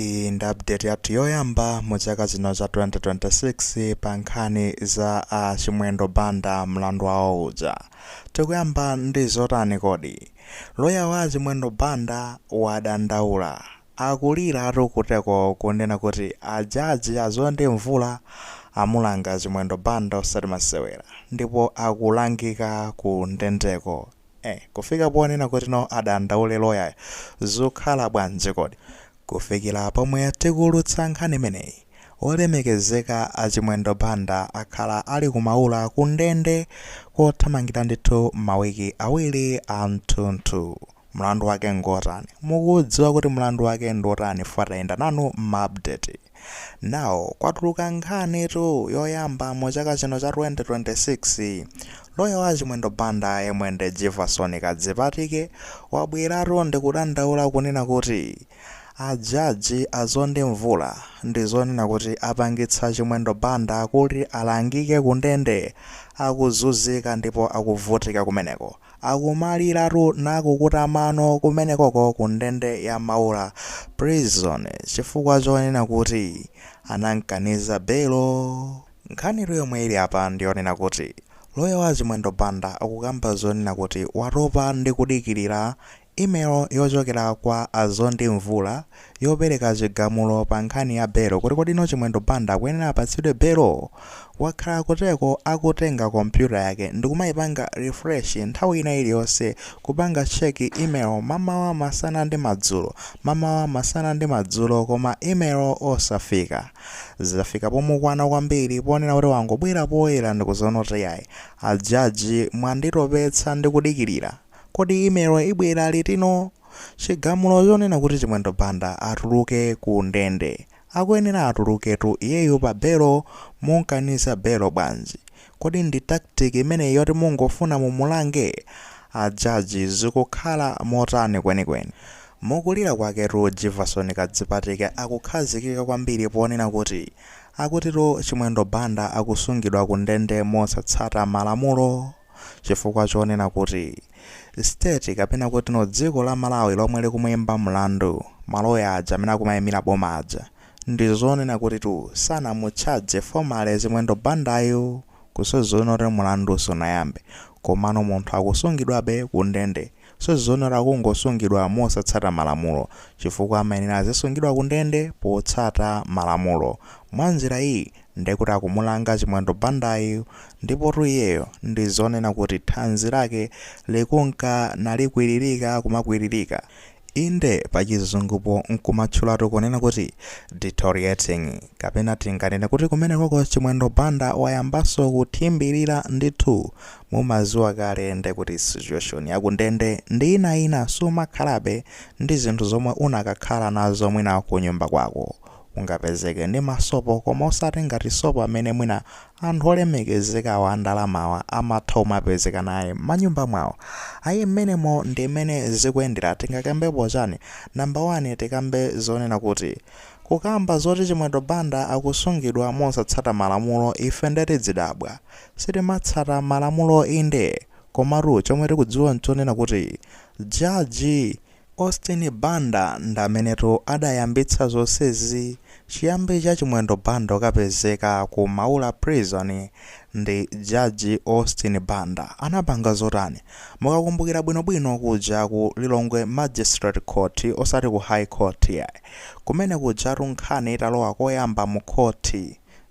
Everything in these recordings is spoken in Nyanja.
Iyi ndi update yathu yoyamba mu chaka chino cha 2026 pa nkhani za a Chimwendo Banda mlandu wawo uja. Tikuyamba ndi zotani kodi? Loya wa a Chimwendo Banda wadandaula. Akuliratu kuteko kunena kuti a jaji a Mzonde Mvula amulanga Chimwendo Banda osati masewera ndipo akulangika ku ndendeko. Eh kufika ponena kuti no adandaule lawyer yo zukhala bwanji kodi? Kufikira pomwe tikuulutsa nkhani imeneyi olemekezeka a Chimwendo Banda akhala ali ku Maula ku ndende kothamangira ndithu ma wiki awili amthunthu. Mlandu wake ngotani? Mukudziwa kuti mlandu wake ndi otani chifukwa tayenda nanu ma update. Now kwatuluka nkhanitu yoyamba mu chaka chino cha 2026. Loya wa Chimwendo Banda yemwe ndi Jivason Kadzipatike wabweratu ndi kudandaula kunena kuti a judge a Mzonde Mvula ndi zonena kuti apangitsa Chimwendo Banda kuti alangike ku ndende akuzuzika ndipo akuvutika kumeneko. Akumaliratu nakukuta mano kumenekoko ku ndende ya Maula prison chifukwa chonena kuti anamkaniza belo. Nkhanitu yomwe ili apa ndiyonena kuti lawyer wa Chimwendo Banda akukamba zonena kuti watopa ndi kudikirira Email yochokera kwa a Mzonde Mvula yopereka chigamulo pa nkhani ya belo kuti kodi no Chimwendo Banda akuyenera apatsidwe belo? Wakhala kuteko akutenga computer yake ndikumaipanga refresh nthawi ina iliyonse kupanga check email mamawa masana ndi madzulo mamawa masana ndi madzulo koma email osafika. Zafika pomukwana kwambiri ponena kuti wangobwera poyera ndikudzanena kuti iyayi a judge mwanditopetsa ndikudikirira. Kodi email ibwera litino? Chigamulo chonena kuti Chimwendo Banda atuluke ku ndende. Akuyenera atuluketu iyeyo pa belo mumkaniza belo bwanji? Kodi ndi tactic imeneyi yoti mungofuna mumulange? A judge zikukhala motani kwenikweni? Mukulira kwaketu Jivason Kadzipatike akukhazikika kwambiri ponena kuti akutitu Chimwendo Banda akusungidwa ku ndende mosatsata malamulo? chifukwa chonena kuti state kapena kuti no dziko la Malawi lomwe likumuimba mlandu ma lawyer aja amene akumaimira boma aja ndi zonena kutitu sanamutchaje formally Chimwendo Bandayu kusonyeza kuti mlandu sunayambe komano munthu akusungidwabe ku ndende kusonyeza kuti akungosungidwa mosatsata malamulo chifukwa amayenera azisungidwa ku ndende potsata malamulo mwa njira iyi Nde kuti akumulanga chimwendo Bandayu ndipotu iyeyo ndizonena kuti thanzi lake likunka nalikwiririka kumakwiririka inde pachizungupo nkumatchulatu kunena kuti deteriorating kapena tinganene kuti kumenekoko chimwendo Banda wayambaso kuthimbirira ndithu mumaziwa kale ndekuti situation ya kundende ndi ina ina sumakhalabe ndi zinthu zomwe unakakhala nazo mwina kunyumba kwako ungapezeke ndi ma sopo koma osati ngati sopo amene mwina anthu olemekezekawa andalamawa amatha umapezeka naye manyumba mwawo ayi mmenemo ndi mmene zikuyendera tingakambepo chani namba 1 tikambe zonena kuti kukamba zoti chimwendo banda akusungidwa mosatsata malamulo ife nde tidzidabwa sitimatsata malamulo inde komatu chomwe tikudziwa nchonena kuti jaji Austin Banda ndamenetu adayambitsa zonsezi, chiyambi cha Chimwendo Banda kukapezeka ku Maula prison ndi Judge Austin Banda anapanga zotani? Mukakumbukira bwino bwino kuja ku Lilongwe Magistrate Court osati ku High Court iyayi, kumene kujatu nkhani italowa koyamba mu court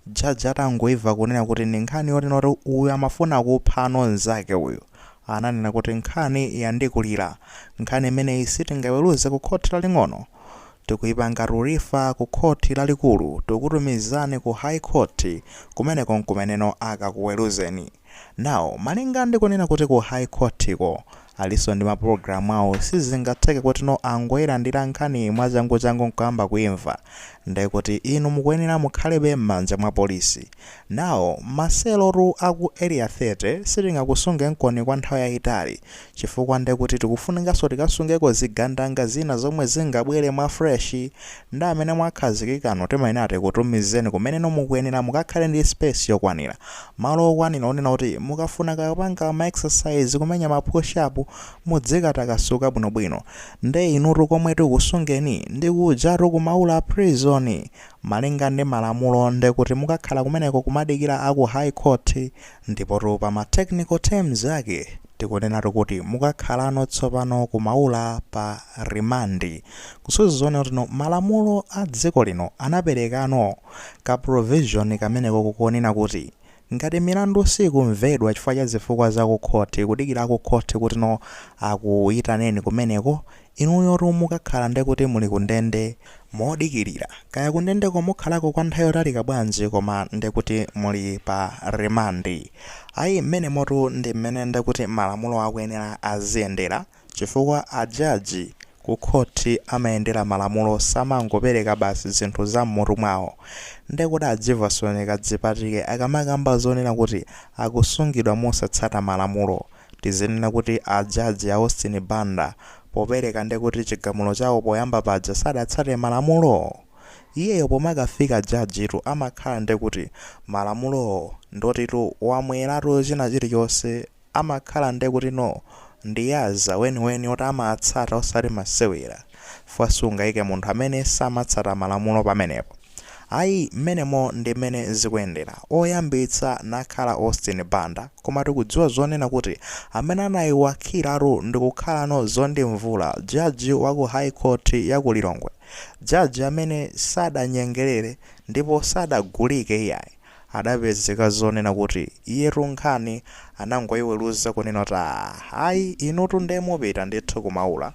Judge atangoimva kunena kuti ndi nkhani yotino kuti uyu amafuna kupha mnzake uyu, ananena kuti nkhani yandikulira. Nkhani imeneyi sitingaweruze ku khoti laling'ono. Tikuipanga refer ku khoti lalikulu. Tikukutumizani ku High Court. Kumeneko n'kumeneno akakuweruzeni. Now, malinga ndi kunena kuti ku High Court ko alinso ndi mapulogalamu awo, sizingatheke kutino angoilandira nkhani mwachanguchangu n'kuyamba kuimva. Ndiye kuti inu mukuyenera mukhalebe m'manja mwa polisi. Now maselotu aku area 30 sitingakusungenkoni kwa nthawi yayitali chifukwa ndekuti tikufunikaso tikasungeko zigandanga zina zomwe zingabwele mwa fresh nde amene mwakhazikikanu timayenera tikutumizeni kumeneno mukuyenera mukakhale ndi space yokwanira malo okwanira onena kuti mukafuna kakupanga ma exercise kumenya ma push up mudzikatakasuka bwinobwino nde inutu komwe tikusungeni ndikujatu ku Maula prison Malinga ndi malamulo ndekuti mukakhala kumeneko kumadikila aku High Court ndipotu pa ma technical terms ake tikunenatu kuti mukakhalano tsopano ku Maula pa remand. Kusonyeza kunena kutino malamulo a dziko lino anapelekano ka provision kameneko konena kuti Ngati milandu siikumvedwa chifukwa cha zifukwa za ku khoti, kudikira a ku khoti kutino akuitaneni kumeneko, inuyotu mukakhala nde kuti muli ku ndende. Modikilira, kaya ku ndendeko mukhalako kwa nthawi yotalika bwanji koma nde kuti muli pa rimandi. Ayi, mmenemotu ndi mmene nde kuti malamulo akuyenera aziyendera. Chifukwa a judge Ku khothi amayendera malamulo samangopereka basi zinthu za mmutu mwawo. Nde kodi a Jivason Kadzipatike akamakamba zonena kuti akusungidwa mosatsata malamulo tizinena kuti a judge a Austin Banda popereka ndekuti chigamulo chawo poyamba paja sadatsate malamulo? Iyeyo pomakafika judge tu amakhala ndekuti malamulowo ndi otitu awamweratu china chilichonse amakhala ndekuti no ndi akadyaza eni eni oti amatsata osati masewera fukwa sungaike munthu amene samatsata malamulo pamenepo ayi mmenemo ndimmene zikuyendera oyambitsa nakhala Austin Banda koma tikudziwa zonena kuti amene anaiwakhiratu ndikukhalano a Zondi Mvula jaji waku High Court yaku Lilongwe jaji amene sadanyengerere ndipo sadagulike iyayi adapezeka zonena kuti iyetu nkhani anangoiweruza kunena kuti aah ayi inutu nde mupita ndithu ku Maula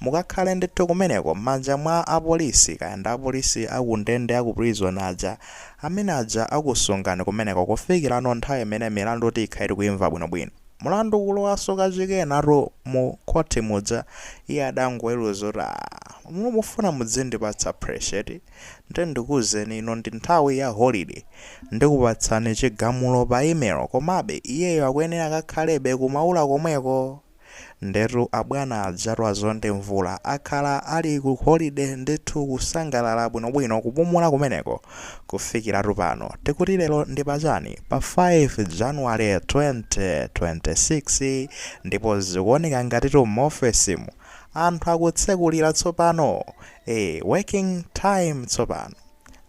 mukakhale ndithu kumeneko mmanja mwa apolisi kaya ndi apolisi a ku ndende a ku prison aja amene aja akusungani kumeneko kufikirano nthawi imene mlandu tikhale tikuumva bwinobwino mlandu kulowanso kachikenatu mu khothi muja iye adangoweruza kuti aah mukufuna mudzindipatsa pressure eti? Ndiye ndikuuzeni ino ndi nthawi ya holiday. Ndikupatsani chigamulo pa email komabe iyeyo akuyenera akakhalebe ku Maula komweko. Ndetu abwana ajatu a Zondi Mvula akhala ali ku holiday ndithu kusangalala bwinobwino kupumula kumeneko kufikiratu pano. Tikuti lero ndi pa chani? Pa 5 January 2026 ndipo zikuoneka ngatitu m'ofesimu. anthu akutsekulira tsopano ee working time tsopano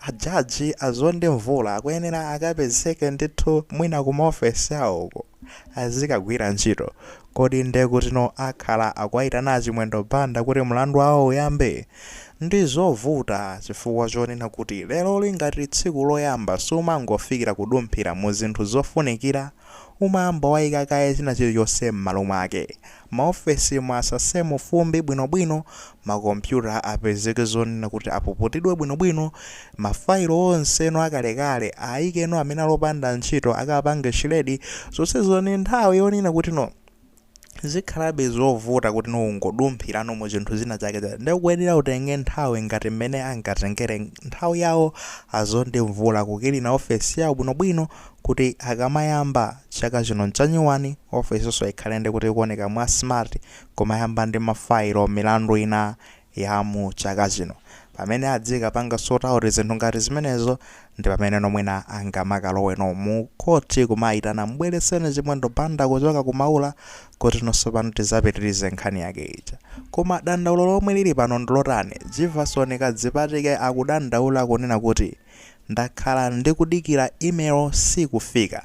a judge a Zondi Mvula akuyenera akapezeke ndithu mwina kuma office awoko azikagwira ntchito kodi nde kutino akhala akuwaitana a Chimwendo Banda kuti mlandu wawo uyambe ndizovuta chifukwa chonena kuti lero lili ngati tsiku loyamba sumangofikira kudumphira mu zinthu zofunikira umayamba waika kaye china chilichonse m'malo mwake. Maofesimu asasemo fumbi bwinobwino, makompyuta apezeke zonena kuti apuputidwe bwinobwino, mafailo onseno akalekale aikeno amene ali opanda ntchito akapange shiredi, zonsezo ndi nthawi yonena kuti no. zikhalabe zovuta kuti no ungodumphirano mu zinthu zina zake ndikuyenera utenge nthawi ngati mmene angatengere nthawi yawo a Zondi Mvula kukilina ofesi yawo bwinobwino kuti akamayamba chaka chino chanyuwani ofisinso ikhale ndi kuti ikuoneka mwa smart kumayamba ndi mafailo milandu ina ya mu chaka chino. Pamene azikapanga sort out zinthu ngati zimenezo ndi pameneno mwina angamakaloweno mu court kumaitana mbweleseni Chimwendo Banda kuchoka ku Maula kuti nonse pano tizapitirize nkhani yake ija. Koma dandaulo lomwe lili pano ndilotani? Jivason Kadzipatike akudandaula kunena kuti, Ndakhala ndikudikira email sikufika.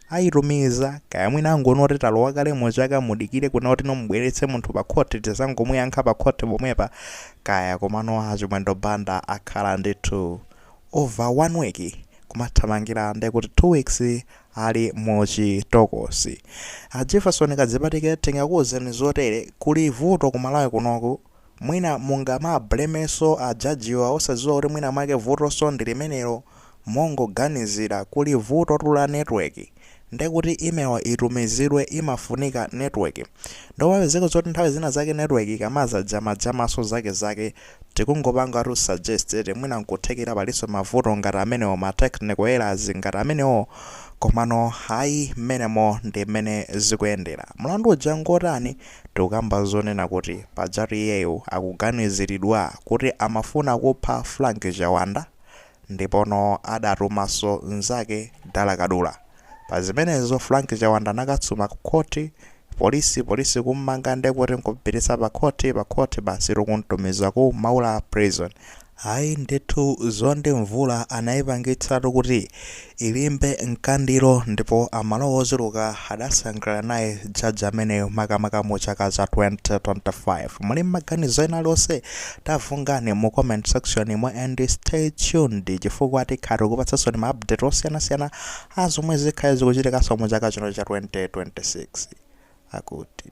Ayitumiza, kaya mwina angoona kuti talowa kale mu chaka mudikire kunena kuti mumubweretse munthu pa khoti tizangomuyankha pa khoti pomwepa kaya komano a Chimwendo Banda akhala ndithu over one week kumathamangira ndekuti two weeks ali mu chitokosi. A Jivason Kadzipatike tingakuuzeni zotere, kuli vuto ku Malawi kunoku. Mwina mungamablemenso a jajiwo osadziwa kuti mwina mwake vutonso ndi limenelo mongoganizira kuli vutotu la network nde kuti email itumizidwe imafunika network nde umapezeka zoti nthawi zina zake network ikamajamajamanso zakezake tikungopangatu suggest eti mwina nkuthekera palinso mavuto ngati amenewo ma technical errors ngati amenewo komano ayi mmenemo ndi mmene zikuyendera. Mlandu uja ngotani? Tikukamba zonena kuti pajatu iyeyu akuganiziridwa kuti amafuna kupha Frank Chiwanda ndipono adatumanso nzake Dala Kadula. Pa zimenezo Frank Chiwanda anakasuma ku khothi, polisi polisi kummanga ndekuti nkumpititsa pa khothi pa khothi basitu kumtumiza ku Maula Prison. Ayi ndithu Mzonde Mvula anayipangitsatu kuti ilimbe nkhaniyo ndipo Amalawi ochuluka adasangalala naye judge ameneyo makamaka mu chaka cha 2025 muli ndi maganizo ena alionse tavunganani mu comment section mo and stay tuned chifukwa tikhala tikupatsansoni ma update osiyanasiyana a zomwe zikhale zikuchitikanso mu chaka chino cha 2026 akuti